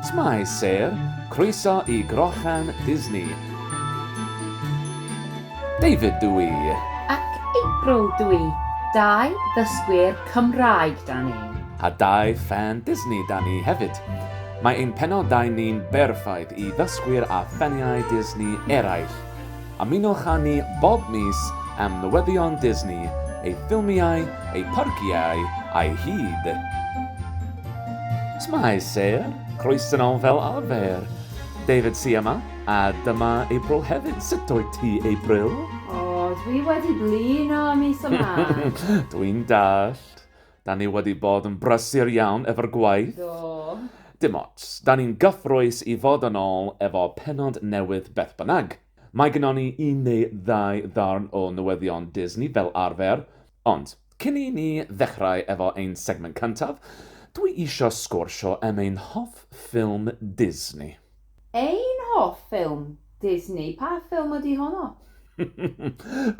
Shwmae Sir, croeso i Grochan Disney. David dw i. Ac April dw i. Dau ddysgwyr Cymraeg 'da ni. A dau ffan Disney 'da ni hefyd. Mae ein penodau ni'n berffaith i ddysgwyr a ffaniau Disney eraill. Ymunwch â ni bob mis am newyddion Disney, ei ffilmiau, ei pharciau a'i hyd. Shwmae Sir, croeso nol fel arfer. David sy yma, a dyma April hefyd, sut wyt ti April? O, dwi wedi blino y mis yma! Dwi'n dallt. Da ni wedi bod yn brysur iawn efo'r gwaith. Do. Dim ots, da ni'n gyffrous i fod yn ôl efo pennod newydd beth bynnag. Mae gynnon ni un neu ddau ddarn o newyddion Disney fel arfer, ond cyn i ni ddechrau efo ein segment cyntaf, dwi isio sgwrsio am ein hoff ffilm Disney. Ein hoff ffilm Disney, pa ffilm ydy honno?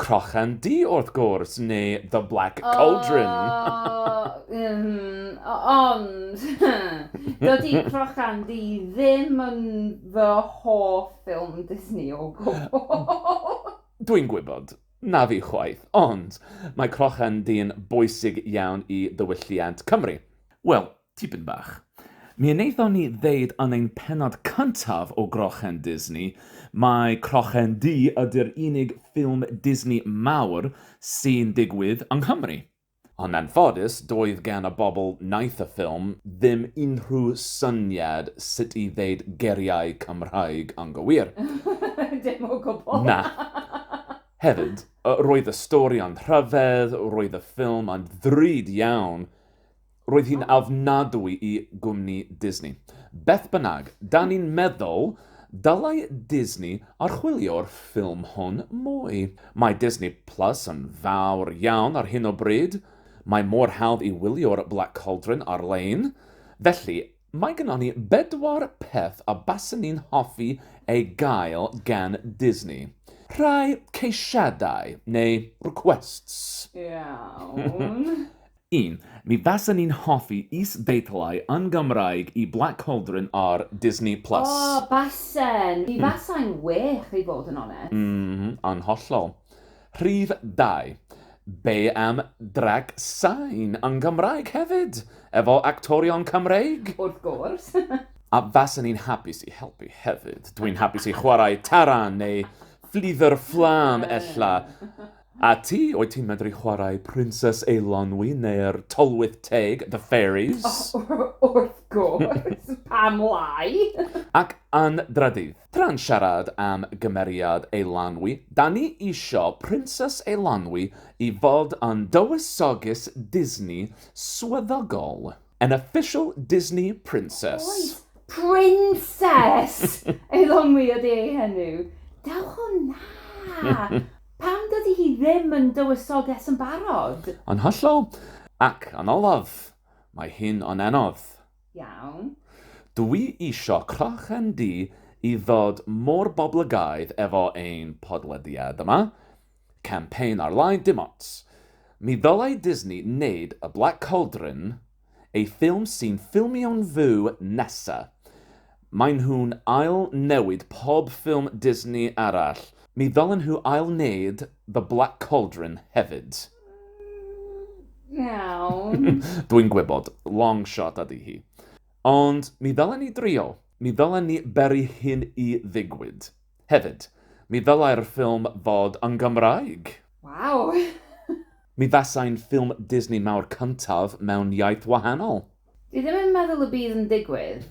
Crochan Du wrth gwrs, neu The Black Cauldron. O, ym, ond, dydy Crochan Du ddim yn fy hoff ffilm Disney o gwbl. Dwi'n gwybod, na fi chwaith, ond mae Crochan Du'n bwysig iawn i ddiwylliant Cymru. Wel, Tipyn bach. Mi wnaethon ni ddeud yn ein pennod cyntaf o Grochen Disney mai Crochen Du ydy'r unig ffilm Disney mawr sy'n digwydd yng Nghymru. Yn anffodus, doedd gan y bobl wnaeth y ffilm ddim unrhyw syniad sut i ddeud geiriau Cymraeg anghywir. Dim o gwbl! Na. Hefyd, roedd y stori yn rhyfedd, roedd y ffilm yn ddrud iawn, Roedd hi'n ofnadwy i gwmni Disney. Beth bynnag, 'da ni'n meddwl dylai Disney archwilio'r ffilm hwn mwy. Mae Disney Plus yn fawr iawn ar hyn o bryd, mae mor hawdd i wylio'r Black Cauldron ar-lein, felly mae gynnon ni bedwar peth a baswn i'n hoffi ei gael gan Disney. Rhai ceisiadau, neu requests. Iawn. Yn, mi fasen i'n hoffi is-deitlau yn Gymraeg i Black Cauldron ar Disney Plus. O, basen! Mi fasai'n wych, i fod yn onest. Ym, yn hollol. Rhif dau. Be am Drac Sain yn Gymraeg hefyd? Efo actorion Cymreig? Wrth gwrs! A fasen i'n hapus i helpu hefyd. Dwi'n hapus i chwarae Taran neu Fflidwr Fflam, ella. A ti, wyt ti'n medru chwarae Princess Eilonwy neu'r Tylwyth Teg, The Fairies? O, wrth gwrs! Pam lai? Ac yn drydydd, tra'n siarad am gymeriad Eilonwy, 'da ni isio Princess Eilonwy i fod yn dywysoges Disney swyddogol. An official Disney princess. Oes, princess! Ei lomi ydi ei henw. Dewch o na! Pam dydy hi ddim yn dywysoges yn barod? Yn hollol. Ac yn olaf, mae hi'n onenodd. Iawn. Dw i isio crochen du i ddod mor boblygaidd efo ein podlediad yma. Campaign ar-lein dim ots. Mi ddylai Disney neud y Black Cauldron eu ffilm sy'n ffilmio'n fyw nesa. Maen nhw'n ail newid pob ffilm Disney arall, mi ddylen nhw ail neud The Black Cauldron hefyd. Iawn. Dwi'n gwybod, long shot ydy hi. Ond mi ddylen ni drio. Mi ddylen ni beru hyn i ddigwyd. Hefyd, mi ddylai'r ffilm fod yn Gymraeg! Waw! Mi fasai'n ffilm Disney mawr cyntaf mewn iaith wahanol. Dwi ddim yn meddwl y bydd yn digwydd.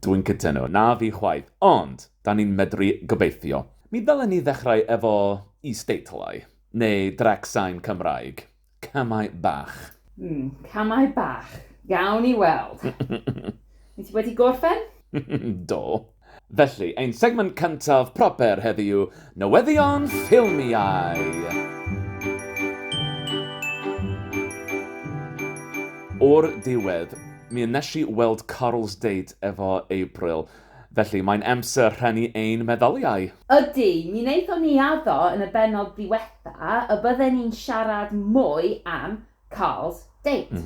Dwi'n cytuno, na fi chwaith, ond 'da ni'n medru gobeithio. Mi ddylen ni ddechrau efo is-deitlau, neu drec sain Cymraeg. Camau bach. Mm, camau bach. Gawn ni weld. Wyt ti wedi gorffen? Do. Felly, ein segment cyntaf proper heddiw, newyddion ffilmiau. O'r diwedd, mi nes i weld Carl's Date efo April, Felly, mae'n amser rhannu ein meddyliau! Ydy, mi wnaethon ni addo yn y bennod ddiwetha' y bydden ni'n siarad mwy am Carl's Date.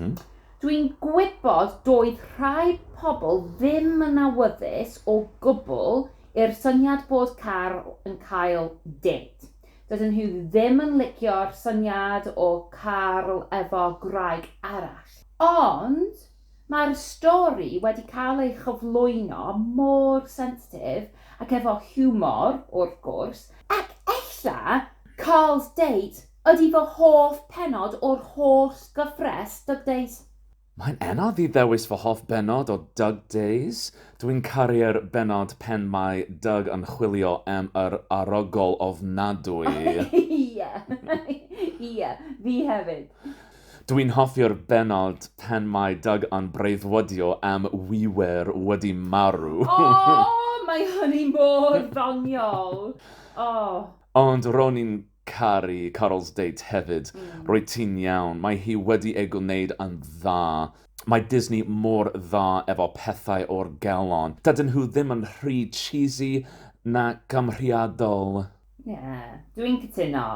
Dwi'n gwybod doedd rhai pobl ddim yn awyddus o gwbl i'r syniad bod Carl yn cael date. Dydyn nhw ddim yn licio'r syniad o Carl efo gwraig arall. Ond, Mae'r stori wedi cael ei chyflwyno mor sensitif ac efo hiwmor, wrth gwrs, ac ella Carl's Date ydi fy hoff pennod o'r holl gyfres Dug Days. Mae'n anodd i ddewis fy hoff bennod o Dug Days. Dw i'n caru'r bennod pen mae Dug yn chwilio am yr arogl ofnadwy. Ie, ie, fi hefyd. Dw i'n hoffi'r bennod pan mae Doug yn breuddwydio am We Were wedi marw! Aww, mae hynny mor ddoniol! Aww. Ond ro'n i'n caru Carol's date hefyd. Rwyt ti'n iawn, mae hi wedi ei gwneud yn dda. Mae Disney mor dda efo pethau o'r galon. Dydyn nhw ddim yn rhy cheesy na gymhriadol. Ie, dw i'n cytuno.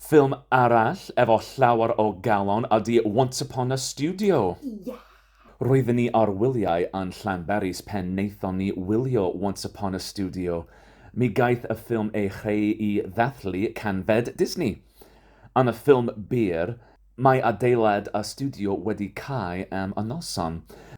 Ffilm arall efo llawer o galon ydi Once Upon a Studio. Ie! Roedden ni ar wyliau yn Llanberis pen naethon ni wylio Once Upon a Studio. Mi gaeth y ffilm ei chreu i ddathlu canfed Disney. Yn y ffilm byr, Mae adeilad a stiwdio wedi cau am y noson.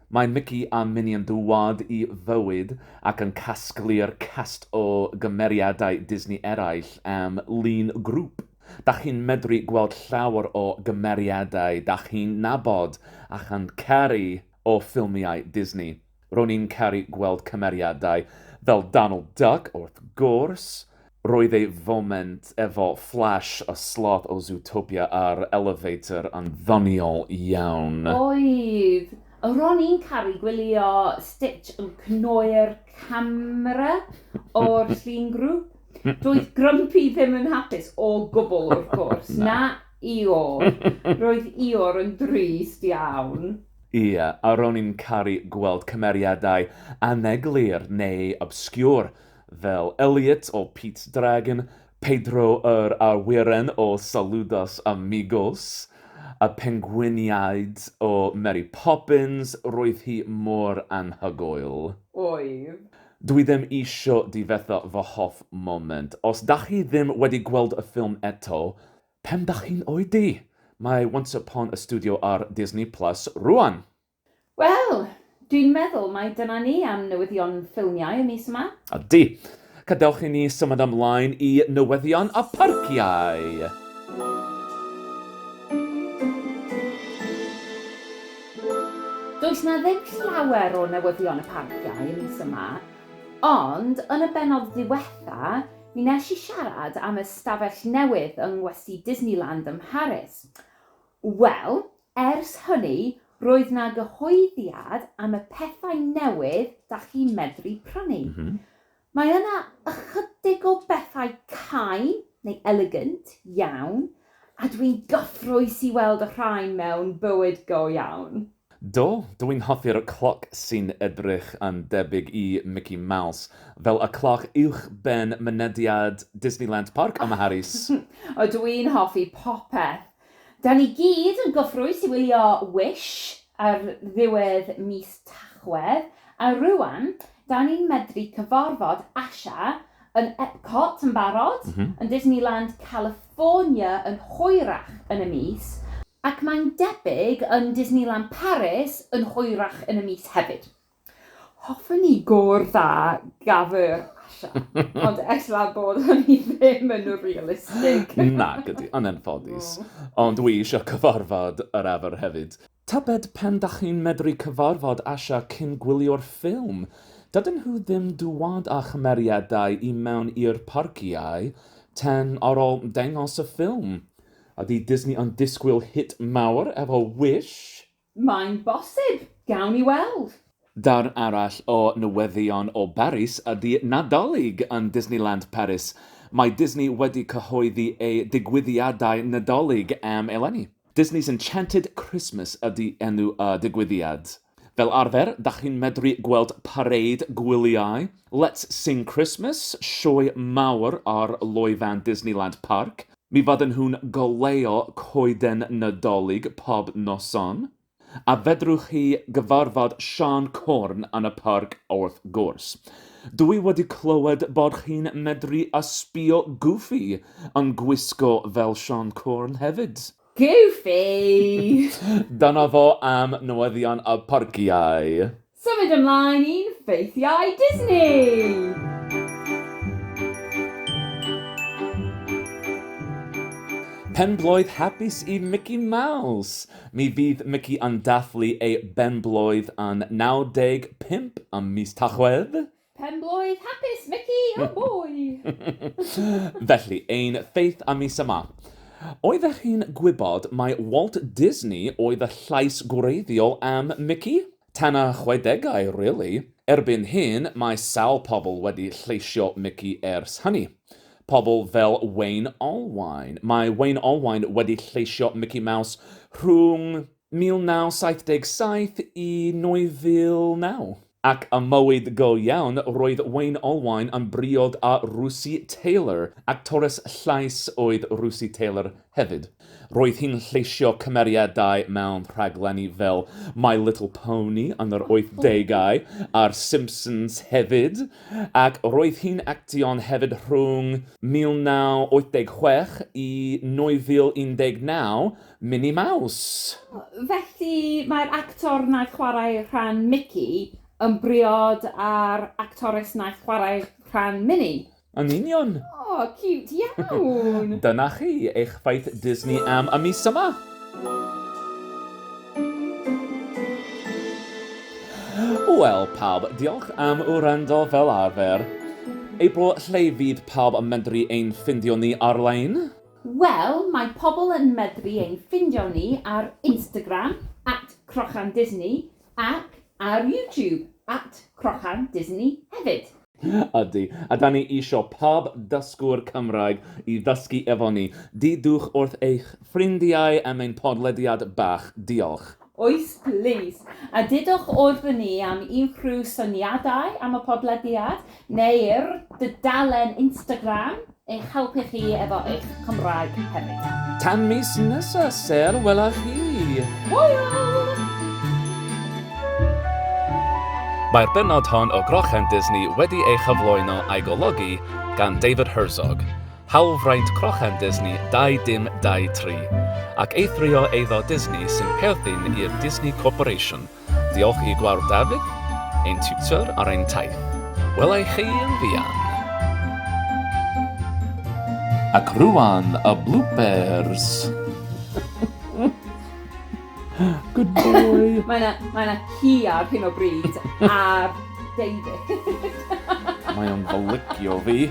Mae Mici a Mini yn dŵad i fywyd ac yn casglu'r cast o gymeriadau Disney eraill am lun grŵp. Dach chi'n medru gweld llawer o gymeriadau dach chi'n nabod a chan caru o ffilmiau Disney. Ro'n i'n caru gweld cymeriadau fel Donald Duck wrth gwrs, roedd ei foment efo Flash a Sloth o Zootopia a'r elevator yn ddoniol iawn. Oedd! Ro'n i'n caru gwylio Stitch yn cnoi'r camera o'r llun grŵp. Doedd Grumpy ddim yn hapus o gwbl wrth gwrs, na Eeyore. Roedd Eeyore yn drist iawn. Ie, a ro'n i'n caru gweld cymeriadau aneglur neu obscure fel Elliot o Pete's Dragon, Pedro yr Awyren o Saludos Amigos, y pengwiniaid o Mary Poppins, roedd hi mor anhygoel. Oedd. Dw i ddim isio difetha fy hoff moment. Os dach chi ddim wedi gweld y ffilm eto, Pen dach chi'n oedi! Mae Once Upon a Studio ar Disney Plus rŵan! Wel! Dwi'n meddwl mai dyna ni am newyddion ffilmiau y mis yma. Ydy! Cadewch i ni symud ymlaen i newyddion y parciau! Does 'na ddim llawer o newyddion y parciau y mis yma, ond yn y bennod ddiwetha' Mi wnes i siarad am y stafell newydd yng ngwesty Disneyland ym Mharis. Wel, ers hynny, roedd 'na gyhoeddiad am y pethau newydd 'da chi'n medru prynu. Mae yna ychydig o bethau cau neu elegant iawn, a dwi'n gyffrous i weld y rhain mewn bywyd go iawn. Do, dw i'n hoffi'r cloc sy'n edrych yn debyg i Mickey Mouse, fel y cloc uwchben mynediad Disneyland Parc ym Mharis. O, dw i'n hoffi popeth! Da ni gyd yn gyffrous i wylio Wish ar ddiwedd mis Tachwedd, a rŵan, da ni'n medru cyfarfod Asha yn Epcot yn barod, yn Disneyland California yn hwyrach yn y mis, Ac mae'n debyg yn Disneyland Paris yn hwyrach yn y mis hefyd. Hoffen ni gor dda gaf yr Asha, ond ella bod hynny ddim yn realistig. Nac ydi, yn anffodus. Ond dwi eisiau cyfarfod yr efo'r hefyd. Tybed pen dach chi'n medru cyfarfod Asha cyn gwylio'r ffilm? Dydyn nhw ddim dŵad â chymeriadau i mewn i'r parciau ten ar ol dengos y ffilm. Ydy Disney yn disgwyl hit mawr efo Wish? Mae'n bosib! Gawn ni weld! Darn arall o newyddion o Baris ydy Nadolig yn Disneyland Paris. Mae Disney wedi cyhoeddi eu digwyddiadau Nadolig am eleni. Disney's Enchanted Christmas ydy enw y digwyddiad. Fel arfer, dach chi'n medru gweld pareid gwyliau, Let's Sing Christmas, sioe mawr ar loefen Disneyland Parc, mi fydden nhw'n goleuo coeden Nadolig pob noson, a fedrwch chi gyfarfod Siân Corn yn y parc wrth gwrs. Dw i wedi clywed bod chi'n medru ysbïo Goofy yn gwisgo fel Siân Corn hefyd. Goofy! Dyna fo am newyddion y parciau. Symud ymlaen i'n ffeithiau Disney! Penblwydd hapus i Mici Maws! Mi fydd Mici yn dathlu ei benblwydd yn 95 ym mis Tachwedd. Penblwydd hapus, Mici! Oh boy! Felly, ein faith am mis yma. Oeddech chi'n gwybod mai Walt Disney oedd y llais gwreiddiol am Mici? Tan y chwedegau, rili. Erbyn hyn, mae sawl pobl wedi lleisio Mici ers hynny. Pobl fel Wayne Allwine. Mae Wayne Allwine wedi lleisio Mici Maws rhwng 1977 i 2009. Ac ym mywyd go iawn, roedd Wayne Allwine yn briod â Russi Taylor, actores llais oedd Russi Taylor hefyd. Roedd hi'n lleisio cymeriadau mewn rhaglenni fel My Little Pony yn yr oithdegau a'r Simpsons hefyd, ac roedd hi'n actio'n hefyd rhwng 1986 i 2019, Minnie Mouse! Felly, mae'r actor wnaeth chwarae rhan Mici yn briod â'r actores wnaeth chwarae rhan Minnie? Yn union! O, ciwt iawn! Dyna chi, eich ffaith Disney am y mis yma! Wel, pawb, diolch am wrando fel arfer. April lle fydd pawb yn medru ein ffindio ni ar-lein? Wel, mae pobl yn medru ein ffindio ni ar Instagram, at Crochan Disney, ac ar YouTube, at Crochan Disney hefyd. Ydy, a 'da ni isio pob dysgwr Cymraeg i ddysgu efo ni. Deudwch wrth eich ffrindiau am ein podlediad bach. Diolch. Oes plis. A dudwch wrth ni am unrhyw syniadau am y podlediad, neu'r dudalen Instagram, eich helpu chi efo eich Cymraeg hefyd. Tan mis nesa ser wela chi! Hwyl! Mae'r bennod hon o Grochenddisney wedi ei chyflwyno a'i golygu gan David Herzog. hawlfraint crochan Disney 2023, ac eithrio eiddo Disney sy'n perthyn i'r Disney Corporation, diolch i Gwawr David, ein tiwtor ar ein taith. Welai chi yn fuan! Ac rwan y bloopers! Good boy! Mae yna mae yna hi ar hyn o bryd ar David. Mae o'n golygio fi.